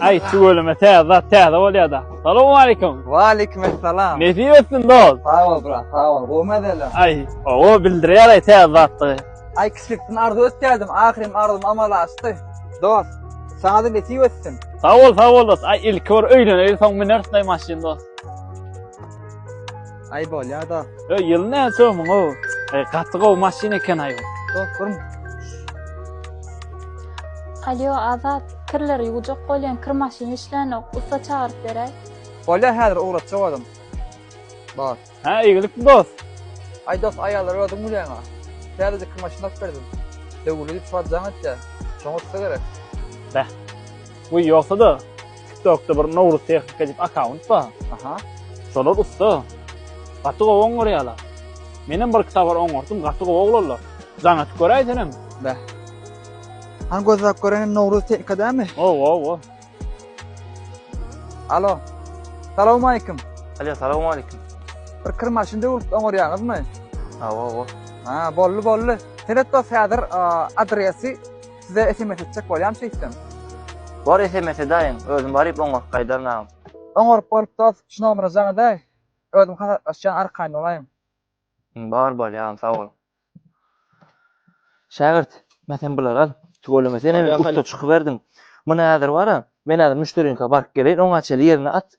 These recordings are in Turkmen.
Ay tüweleme täze zat täze bolýar da. Salam aleyküm. Wa aleyküm esselam. Nesip etsin dost. Sag ol brat, sag ol. Gowma dälem. Ay, o bildirýär ay täze zatdygy. Ay kiçilikden arzu etýärdim, ahyrym arzum amala aşdy. Dost, sana da nesip etsin. Sag ol, sag ol dost. Ay ilki bir öýleneýin, soň münersiň ay maşyn dost. Ay bolya da. Ö ýyl ne sömüň o. E, gaty gowy maşyn eken aýy. Dostum. Alyo Azat, kirleri ýuwjak bolýan kir maşyny işlänok, ussa çagyryp beräý. Bolya häzir ugratjak olam. Bar. Ha, iyilik dost. Ay dost ayarlar ödüm gülüyen ha. Sadece kir maşyny alyp berdim. Döwürli git çuwatjan et ya. Şoňa ussa gerek. Bu ýogsa da Tiktokda bir Nowruz Tehnika diýip akaunt bar. Aha. Şolar ussa. Gaty gowy oňarýarlar. Menem bir iki sapar oňardym, gaty gowy oglanlar. Jaňa tüküräý senem. Bä. Han gözläp görenim Nowruz Tehnika dämi? O, o, o. Alo. Salam aýkim. Alýa, salam aýkim. Bir kir maşyn döwülip oňarýaňyzmy? Awa, awa. Ha, bolly, bolly. Seret dos häzir adresi Size sms etjek bolýan şeýtsem. Bor sms edaýiň, özüm baryp oňaryp gaýdaryn agam. Oňaryp bolup dos, şu nomera jaň edaý, özüm hasaplaşýan arkaýyn bolaýyň. Bar bolýa agam sag bol. Şägirt, men sen bulary al. Tüweleme sen hem ussa çykyberdiň. Muny häzir bara, men häzir müşderiniňka baryp geleýin, oňa çenli ýerine at.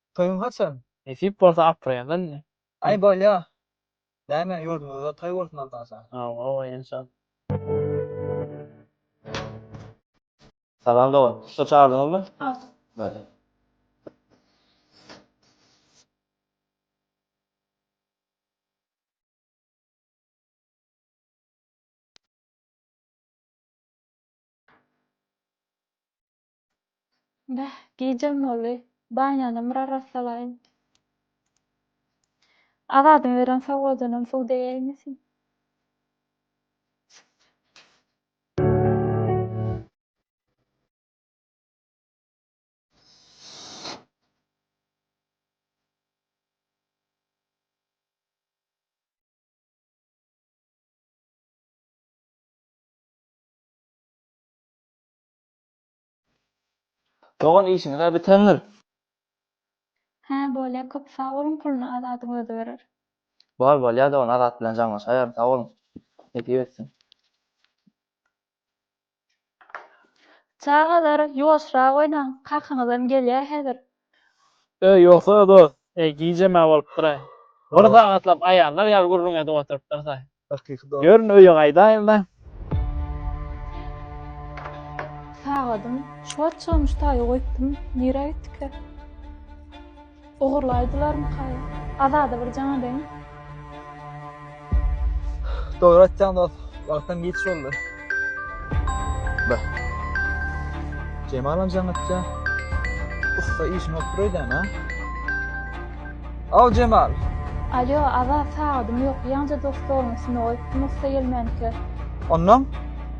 Toýuň haçan? Nesip bolsa aprelde indi. Aý bolýa. Näme ýurdumyzda toý bolsun Aldaşa. Hawa hawa enşalla. Salam dogan. Ussa çagyrdyňyzmy? Hawa. Bale. Beh, gijäm boldy. Banýanam bir arassalaýyn. Azadyň beren sowgadynam suw degäýmesin. Dogan işiňizä bitendir. Hä bolýa köp sag boluň puluny Azadyň özi berer. Bol bolýa dogan Azat bilen jaňlaşaýaryn sag boluň nesip etsin. Çagalar ýuwaşrak oýnaň kakaňyzam gelýär häzir. Öý ýoksa-da dos, eý gijemä bolupdyraý. Bir sagatlap aýallar ýaly gürrüň edip oturypdyrsaý. Hakyky dost. Ýörün öýe gaýdaýynda. Sagadym şu wagt çygamyş taýy goýupdym, nirä gitdika? Ogurlaýdylarmyka? Azada bir jaň edeýin. Dogry aýtýaň dost, wagtam giç boldy. Bah. Jemalam jaňatja ussa işiňi oturaýdan a. Aw Jemal. Alýo aza sagadym ýok ýaňja dos stoluň üstünde goýupdym ussa gelmänkä. Onnoň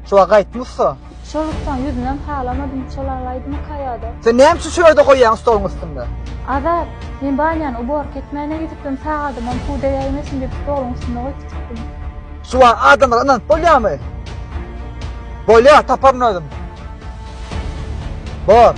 şu wagt gaýtmy ussa. Şol ussaň ýüzünem halamadym çol alaýdymyka ýada. Sen näme üçin şu ýerde goýýaň stoluň üstünde. Azat. Men banýany uborka etmäne gidipdim sagadymam suw degäýmesin diýip stoluň üstünde goýup gitipdim. Suwa adamlara ynanyp bolýamy? Bolýar, taparyn özüm. Bor.